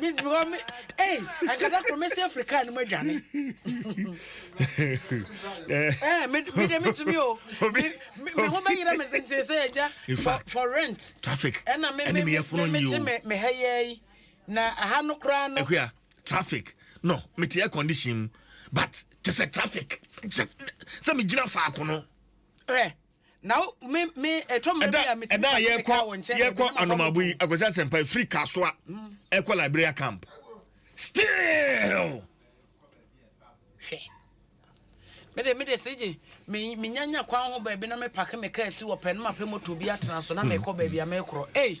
me because me hey anka da koro mesi afiri kaa no mu adwane eh me me de metumi o me me ho bɛyerɛ me sente sɛ agya for for rent traffic ɛna me me me me te me me ha yɛ na aha no koraa no ɛkuya traffic no me te air condition but te sɛ traffic sɛ me gyina faako no eh na me me ɛtɔ mmerɛ bi a metumi ka sɛ mekaa wɔ nkyɛn yɛkɔ anomabo yi akwasi asɛmpa ɛfiri kasoa mm. ɛkɔ liberia camp still hwɛ mede mede sigye menyanya kwan ho baabi na mepake me kaa si wɔ pɛ no mapɛ moto bi atena so na mekɔ baabi a mekorɔ ei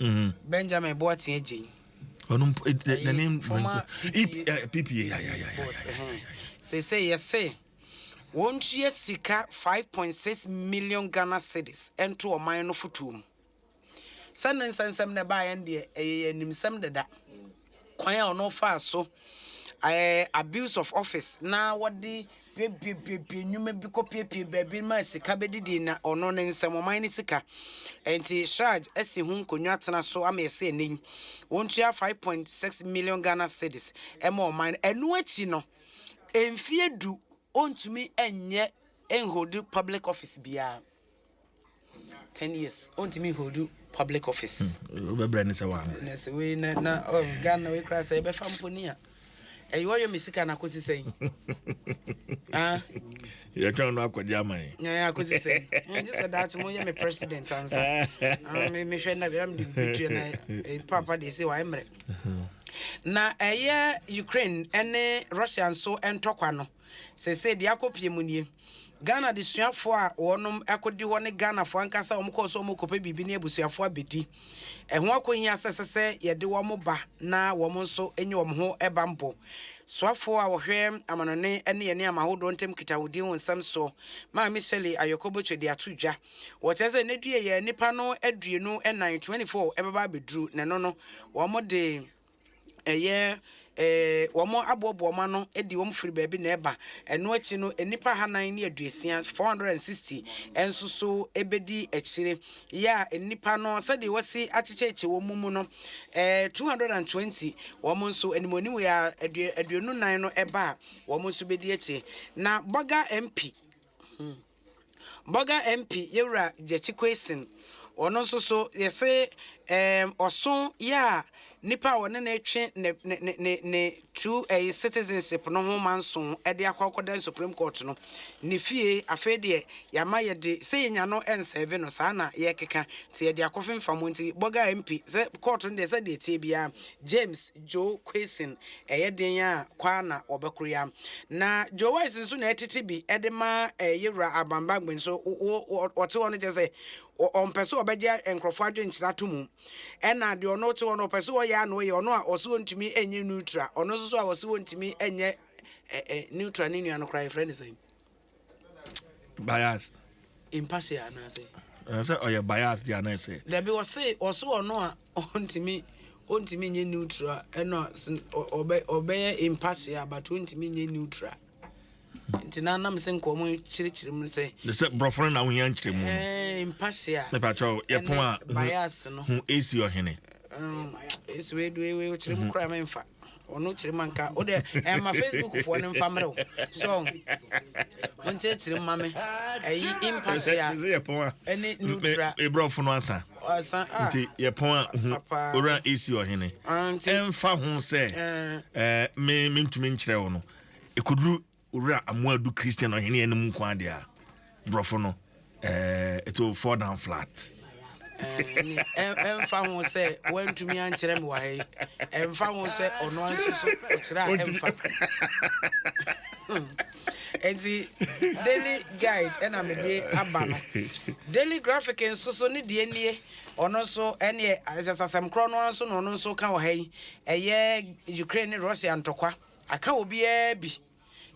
Mm-hmm. Benjamin Boateng Jane. ɔno mpo the the name rings a pp ya ya ya ya sɛ sɛ yɛsɛ wɔntua sika 5.6 million ghana cedis ɛnto ɔman no fotoɔ mu sɛ ne nsɛnsɛm na ɛbaeɛ no deɛ ɛyɛ yɛ animsɛm deda mm. Kwan a ɔno faa so ɛɛ abuse of office na wɔde piapiapiapia nnwuma bi kɔ piapia baabi ma sika bɛdidi na ɔno ne nsɛm ɔman ne sika. Ɛnti Shraj asi ho nkonnwa atena so ama ɛsɛ ɛnɛ yi wɔntua five point six million Ghana cedis ɛma ɔman no. Ɛno akyi no mfie du ɔntumi ɛnyɛ ɛnholdi public office biara. ten years ɔntumi nholdu public office hmm, wobɛbrɛ ne sɛ waanɛsɛ wei na na oh, ghana wei koraa sɛ yɛbɛfa mponi a ɛyɛ wɔyɛ me sika no akɔsi sɛn ah. yɛtwɛn no akɔgye ama yɛ akɔsi sɛn gye sɛ daakye mo yɛ me president ansa ah, mehwɛ na bɛram de bɛtuɛ na eh, papa deɛ sɛ waɛ mmerɛ na ɛyɛ ukraine ne russia nso ntɔkwa no Seesei deɛ akɔ pie mu nie. Ghana adesuafoɔ a wɔnom kɔdi hɔ ne Ghanafoɔ ankasa a wɔkɔɔ so wɔrekɔpɛ biribi ne abusuafoɔ abɛdi. Ɛho akɔhia sɛ ɛsɛ sɛ yɛde wɔn ba na wɔn nso nya wɔn ho bammɔ. Soafoɔ a ɔhwɛ amanɔne ne yɛn nneɛma ahodoɔ ntam nkitahodie ho nsɛm soɔ, Maame Shirley Ayɔkɔ Botwe de ato dwa. Wɔkyerɛ sɛ nnɛ due yi a nnipa no aduonu nan, 24, bɛba abɛduru na ɛno no wɔde ɛyɛ wɔn aboaboa wɔn ano de wɔn firi baabi na ɛba. Ɛno akyi no, nnipa hanan ne aduosia, 460, nso so bɛdi akyire. Yɛ a nnipa no, sɛdeɛ wɔsi akyekyɛkyɛ wɔn mu no, 220, wɔn nso animuanim yɛ a aduonu nan no ɛba a, wɔn nso bɛdi akyire. Na Bɔga MP. Hmm. Bɔga MP yɛwura Gyakyi Quayson, ɔno nso so yɛse ɛɛm ɔso yɛ a nipa a wɔne no retwe ne ne ne ne ne tu ɛyi citizenship no ho manso ɛde akɔ akɔda Supreme Court no ne fie afei deɛ yɛama yɛde sɛ yɛnya no ɛnsɛve no saa na yɛkeka nti yɛde akɔfemfa mu nti Bɔga MP sɛ court no deɛ sɛ deɛ ɛteɛ biara James Joe Quaison ɛyɛ den a kwaa na wɔbɛkoro ya. Na Joe Wise nso na ɛtete bi de ma yɛ wura Aban Bagbin so ɔte hɔ no kyɛ sɛ ɔmpɛ sɛ ɔbɛgye nkurɔfoɔ adwenkyena to mu ɛna deɛ ɔno te hɔ no ɔpɛ sɛ ɔyɛ ano yɛ ɔno a ɔse ɔntumi nyɛ neutral ɔno nso so a ɔse ɔntumi nyɛ neutral ne nua no koraa yɛfrɛ ne sɛn bias impartial anaasɛ ɛsɛ sɛ ɔyɛ bias deɛ anaa ɛsɛ dabi ɔse ɔso ɔno a ɔntumi ɔntumi nyɛ neutral ɛna ɔbɛyɛ impartial but ɔntumi nyɛ neutral nti na nam sɛ nka ɔmo kyerɛkyerɛ mu sɛ ne sɛ borɔfo no na wohia nkyerɛ mu no mpahyɛ a mepakyɛ yɛpon a bias no ho ɛsi ɔhene ɛsi wei do wei kyerɛ mu koraa memfa Ɔno kyerɛma nka wo dɛ ɛma Facebook foɔ no nfa mmerɛ wo so wo nkyerɛkyerɛ mu ma me ɛyi impasia ɛne nutra ebrɔfo no asa asa a nti yɛpɔn a owura esi ɔhene ɛnfa ho sɛ ɛɛ me mentumi nkyerɛ wo no ekoduru Owura Amoah du Christian ɔhene yɛ no mu nko ade a borɔfo no eh, it will fall down flat. ɛmfa eh, ho sɛ woantumi ankyerɛ me wɔ ha yi ɛmfa ho sɛ ɔno nso so ɔkyerɛ a ɛmfa nti daily guide ɛna mede aba no daily graphic nso so ne deɛ nie ɔno nso ɛneɛ asasɛm korɔ no nso na ɔno nso ka wɔ ha yi ɛyɛ ukraine ne russia ntɔkwa Aka obiara bi.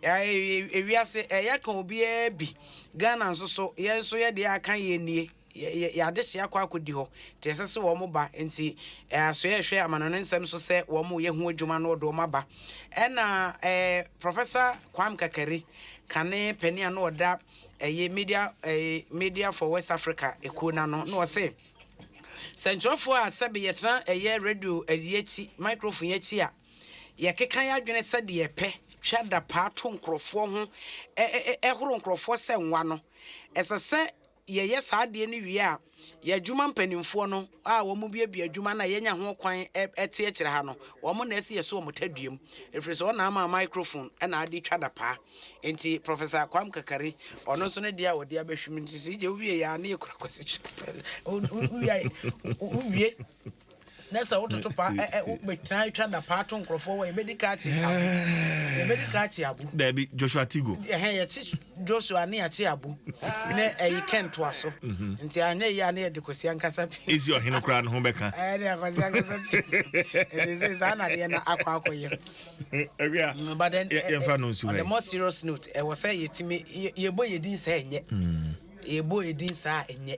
Ewiase ɛyɛ aka obiara bi. Ghana nso so yɛn nso yɛ deɛ aka yɛn nie. Yɛn adehye akɔ akɔdi hɔ nti ɛsɛ sɛ wɔn ba. Nti asoɛ ɛhwɛ amanɔne nsɛm so sɛ wɔn reyɛ ho adwuma na wɔde wɔn aba. Ɛna ɛɛ Professor Kwame Kakari kane panin a na ɔda ɛyɛ Media ɛɛ Media for West Africa ɛkuo no ano na ɔse sɛntwerɛfoɔ a sɛbe yɛtena ɛyɛ radio ɛyi akyi microphone akyi a, Yɛkeka y'adwene sɛ deɛ ɛpɛ twa da paa to nkorɔfoɔ ho ɛhoro nkorɔfoɔ sɛ nwa no. Ɛsɛ sɛ yɛyɛ saa adeɛ no wie a, y'adwuma mpaninfoɔ no a wɔn buebue adwuma no a y'anya ho kwan ɛte akyire ha no, wɔn na ɛsɛ yɛso wɔn taduam. Ɛfiri sɛ wɔn na ama microphone ɛna ade twa da paa. Nti Professor Kwam Kakari, ɔno nso ne deɛ a ɔde abɛhwim nti sɛ yɛgye wo wie yɛ a ne yɛkura Kwasi Twum. Wo wie? na sɛ wototo pa ɛ ɛ wobɛtena atwa da paa to nkurɔfoɔ wɔ yɛbɛdi ka akye abu yɛbɛdi ka akye abu daabi joshua tigo ɛhɛn yɛkye joshua ne yɛakye abu ne ɛyi kɛntoa so mhm. nti anyɛ yi a ne yɛde kwasi ankasa pii ɛsi ɔhene koraa no ho bɛka ɛne akwasi ankasa pii so ɛti sɛ saa na deɛ na akɔ akɔ yɛ mm, but then yɛmfa no nsu on the more serious note ɛwɔ sɛ yɛtumi yɛbɔ yɛdin saa ɛnyɛ mm. yɛbɔ yɛdin saa ɛnyɛ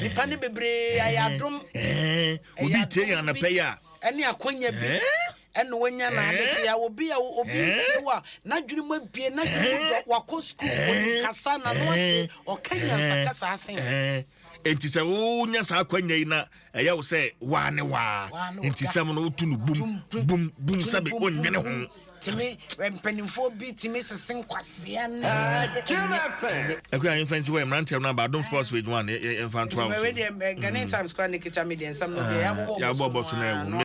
nipa ne bebree ayɛ adom obi tie yɛn anapɛ yi a ɛne akwanya bi ɛna wanya na adete a obi a obi tie wo a n'adwene mu abie n'adwene mu dɔ wakɔ sukuu onim kasa na no ate ɔka nyansa kasa asen enti sɛ wonya saa akwanya yi na ɛyɛ wo sɛ waa ne waa nti sɛm no woto no bum bum bum sɛbe ɔnwene ho tumi mpanimfoɔ bi tumi sese nkwaseɛ ne ɛkɔ a yɛmfa nsi hɔ yɛ mmeranteɛ no aba adom sports page one yɛmfa ntoa wo so Ghanaian mm. Times kora ne kita me deɛ nsɛm no deɛ ah, yɛabɔbɔ so no ɛwo